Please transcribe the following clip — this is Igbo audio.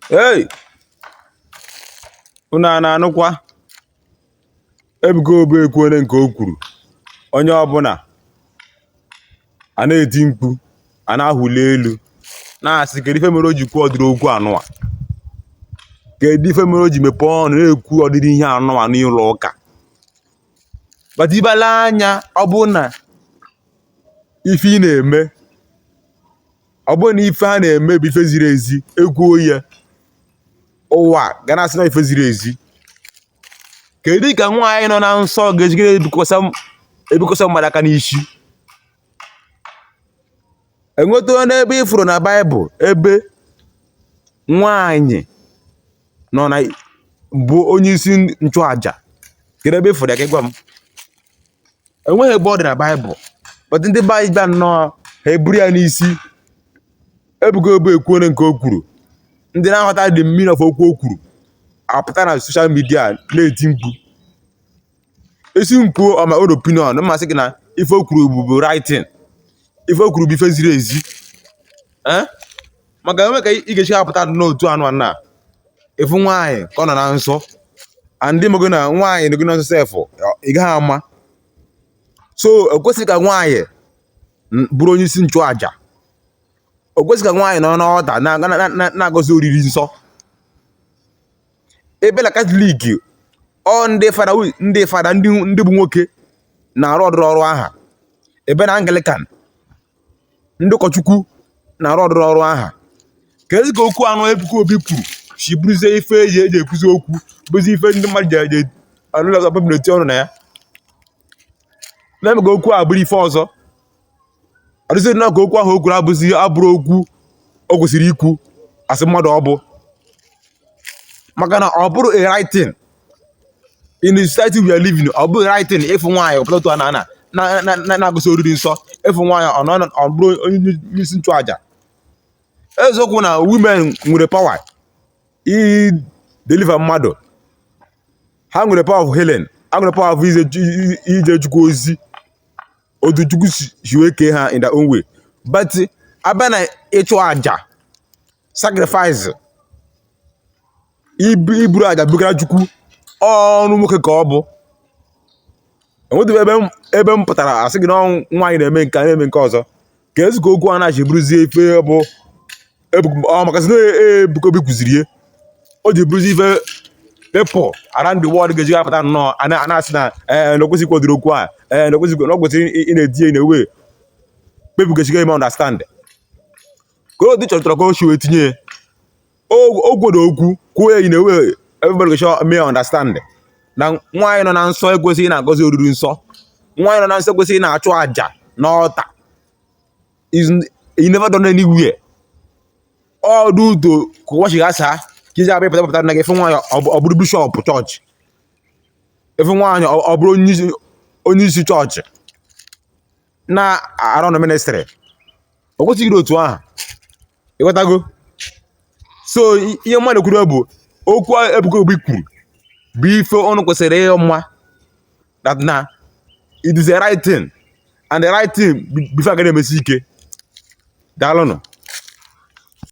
ei unu a na-anụkwa ebuka obi ekwuole nke o kwuru onye ọbụla a na-eti mkpu a na-ahụli elu na-asị kedu ife mere o ji kwuo ụdịrị okwu anụwa kedu ife mere o ji mepee ọnụ na-ekwu ụdịrị ihe anụwa n'ụlọ ụka but ị bala anya ọ bụrụ na ife ị na-eme ọ bụrụ na ife a na-eme bụ ife ziri ezi e kwuo ya ụwa ga na-asị na ife ziri ezi kedu ka nwaanyị nọ na nsọ ga-esi ebikwasa mmadụ aka n'isi enwetụgo ebe ị fụrụ na baịbụl ebe nwaanyị nọ na bụ onye isi nchụaja kedu ebe ị fụrụ ya ka ị gwa m enweghị ebe ọ dị na baịbụl but ndị be anyị bịa nnọọ ha eburu ya n'isi ebuka obi ekwuole nke o kwuru ndị na-aghọta the meaning of okwu o kwuru apụta na soshal midia na-eti mkpu esi mkpu on my own opinion m na-asị gị na ife o kwuru bụ bụ right thing ife o kwuru bụ ife ziri ezi Eh? maka enweghị ka ị ga-esi apụta n'otu anụa ị fụ nwaanyị ka ọ nọ na nsọ and ma ọ bụ na nwaanyị nọgo na nsọ sef ị gaghị ama so ekwesịghị ka nwaanyị bụrụ onye isi nchụaja o kwesịghị ka nwaanyị nọ n'altar na-agọzi oriri nsọ abịa na katọlik ọ ndị fada ndị fada ndị bụ nwoke na-arụ ụdịrị ọrụ aha abịa na anglikan ndị ụkọchukwu na-arụ ụdịrị ọrụ aha keezi ka okwu anụ ebuka obi kwuru si bụrụzie ife eji eji ekwuzi okwu bụzi ife ndị mmadụ ji eji alụlọ ọzọ bụbụ na-eti ọnụ na ya na-eme ka okwu a bụrụ ife ọzọ ọ dịzi na ka okwu ahụ o kwuru abụzi abụrọ okwu o kwesịrị ikwu asị mmadụ ọ bụ maka na ọ bụrọ a right thing in the society we are living ọ bụghị right thing ịfụ nwaanyị ọ pụta n'altar na ana na- na- na- na-agọzi oriri nsọ ịfụ nwaanyị ọ nọ- ọ bụrụ onye isi nchụaja eziokwu na women nwere power i deliver mmadụ ha nwere power of healing ha nwere power of ije ju- ije chukwu ozi otu chukwu si si wee kee ha in their own way but abịa na ịchụ aja sacrifice ibu iburu aja bugara chukwu ọrụ nwoke ka ọ bụ enwetụghị ebe m ebe m pụtara asị gị na ụmụ nwaanyị na-eme nke a na-eme nke ọzọ keezi ka okwu anụa si bụrụzie ife bụ ebu- ọ maka sị na ebuka obi kwuziri ya o ji bụrụzi ife people around the world ga-eji apụta nnọọ a na- a na-asị na ee na o kwesịghị ikwu ụdịrị okwu a ee na okwesịkwa na ọ kwesịrị ị- ị na-eti ya in a way people ga-esi ime understand Kolodu chọrọ ka o si wee tinye ya o gwere okwu kwuo ya in a way everybody should understand na nwaanyị nọ na nsọ ekwesịghị na-agọzi oriri nsọ nwaanyị nọ na nsọ ekwesịghị na-achụ àjà n'ọlta it's never done anywhere all due to ka ụwa si gbasaa ka i ji abịa pụta na gị afụ nwaanyị ọ bụrụ bishọp chọọchị ị fụ nwaanyị ọ bụrụ onye isi chọọchị na-arụ na ministrị o kwesịghị ịdị otu ahụ ị ghọtago so i- ihe mmadụ kwuru bụ okwu Ebuka Obi kwuru bụ ife unu kwesịrị ịma that na it is the right thing and the right thing bụ ife a ga na-emesi ike daalụnụ